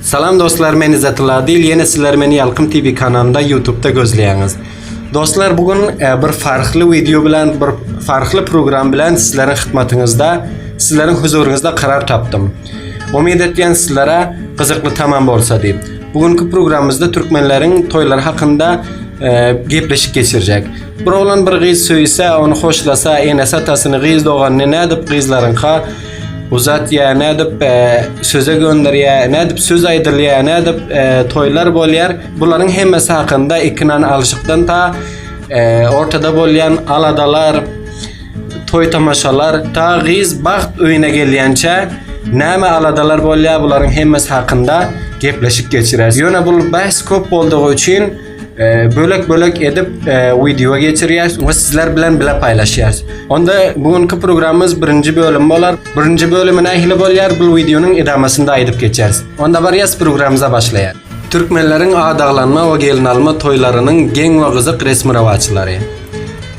Salam dostlar men Izzatilla Adil ýene sizler meni Ýalkym TV kanalynda YouTube'da gözleýäňiz. Dostlar bu gün e, bir farkly wideo bilen bir farkly program bilen sizleriň hyzmatyňyzda sizleriň huzuryňyzda karar tapdym. Umyt etýän sizlere gyzykly tamam bolsa diýip. Bu günki programymyzda türkmenleriň toýlary hakynda e, gepleşik geçirjek. Bir oglan bir gyz söýse, ony hoşlasa, enesi atasyny, gyz doganyny nädip gyzlaryňka Bu zat ya ne edip e, söze gönderýär, ne edip söz aýdylýar, ne edip e, toýlar bolýar. Bularyň hemmesi hakynda ikinan alşykdan ta e, ortada bolýan aladalar, toý tamaşalar, ta gyz bagt öýüne gelýänçä näme aladalar bolýar bularyň hemmesi hakynda gepleşik geçireris. Ýöne bu bäs köp boldugy üçin Ee, bölek bölek edip e, video geçirýäs we sizler bilen bile paýlaşýas. Onda bu günki programmyz birinji bölüm bolar. Birinji bölümi nähili bolýar? Bu wideonyň edamasynda aýdyp geçeris. Onda barýas programmyza başlaýar. Türkmenleriň adaglanma we gelin alma toýlarynyň geň we gyzyk resmi rawaçlary.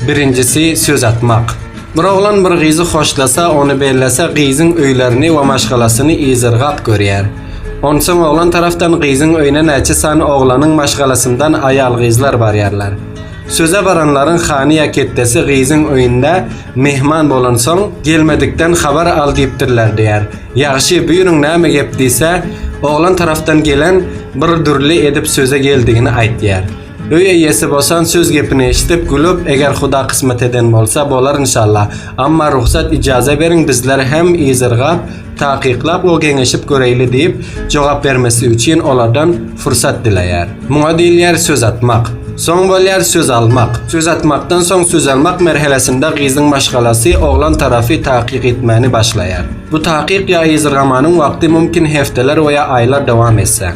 Birinjisi söz atmak. Bir oglan bir gyzy hoşlasa, ony bellese, gyzyň öýlerini we maşgalasyny yzyrgap görýär. Onsoň oglan tarapdan gyzyň öýüne näçe sany oglanyň maşgalasyndan aýal-gyzlar barýarlar. Söze baranlaryň hany ýa ketdesi gyzyň öýünde myhman bolansoň, gelmedikden habar al diýipdirler diýer. Ýagşy, buýruň näme gep diýse, oglan tarapdan gelen bir dürli edip söze geldigini aýtýar. Öý eýesi bosan söz gepini eşidip gülüp eger huda kysmat eden bolsa bolar inşalla amma rugsat ijaza beriň bizler hem yzyrgap takyklap we geňeşip göreýli diýip jogap bermesi üçin olardan fursat dileýär. Muňa diýilýär söz atmak. Soň bolýar söz almak. Söz atmakdan soň söz almak merhelesinde gyzyň maşgalasy oglan tarafy takyk etmäni başlaýar. Bu takyk ýa yzyrgamanyň wagty mumkin hefteler we ýa aýlar dowam etse.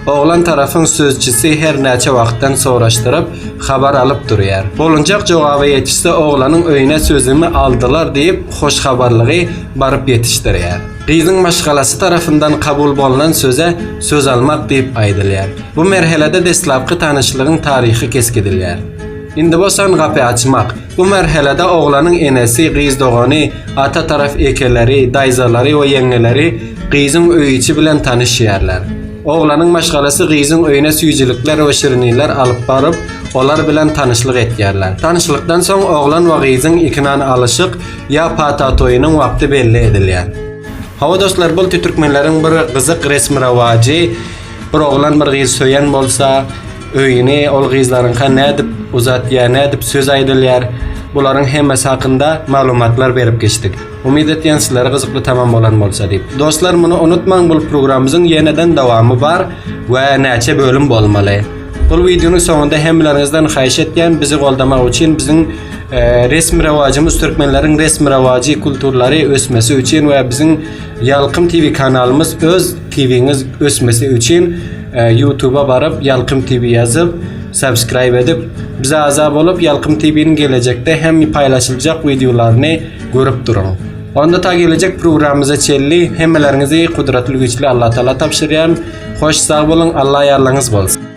Oglan tarapyň sözçüsi hernäçe wagtdan soraşdyryp, habar alyp durýar. Bolunjak jogaby ýetişse oglanyň öýüne sözümi aldylar diýip, hoşhabarlygy baryp ýetişdirýär. Gyzyň maşgalasy tarapyndan kabul bolnan söze söz almak diýip aýdylýar. Bu merhelede deslapky tanyşlygyň taryhy kesgidilýär. Indi bosan gapy açmak, Bu merhelede oglanyň enesi, gyz dogany, ata tarap ekeleri, daýzalary we ýeňňeleri gyzyň öý içi bilen tanyşýarlar. Oglanyň maşgalasy gyzyň öýüne süýjülikler we şirinlikler alyp baryp, olar bilen tanyşlyk etýärler. Tanyşlykdan soň oglan we gyzyň ikinan alyşyk ýa pata toýunyň wagty belli edilýär. Hawa dostlar bulty türkmenleriň bir gyzyk resmi rowajy bir oglan bir gyz söýen bolsa, Öýüni ol gyzlaryňka nädip uzatýar, nädip söz aýdylýar, bularyň hemmesi hakynda maglumatlar berip geçdik. Umyt etýän sizlere gyzykly tamam bolan bolsa diýip. Dostlar muny unutmaň bul programymyzyň ýeneden dowamy bar we näçe bölüm bolmaly. Bul wideonyň soňunda hemmeleriňizden haýyş etýän bizi goldamak üçin biziň resmi rewajymyz türkmenleriň resmi rewajy kulturlary ösmesi üçin we biziň Ýalkym TV kanalymyz öz TVňiz ösmesi üçin Ýutuba baryp Ýalkym TV ýazyp subscribe edip bize agza bolup Ýalkym TVniň gelejekde hem paýlaşyljak wideolaryny görüp duruň. Onda ta gelejek programmyza çenli hemmeleriňizi Gudratly Güýçli Allatagala tabşyrýan. Hoş sag boluň Alla ýarlygyňyz bolsun.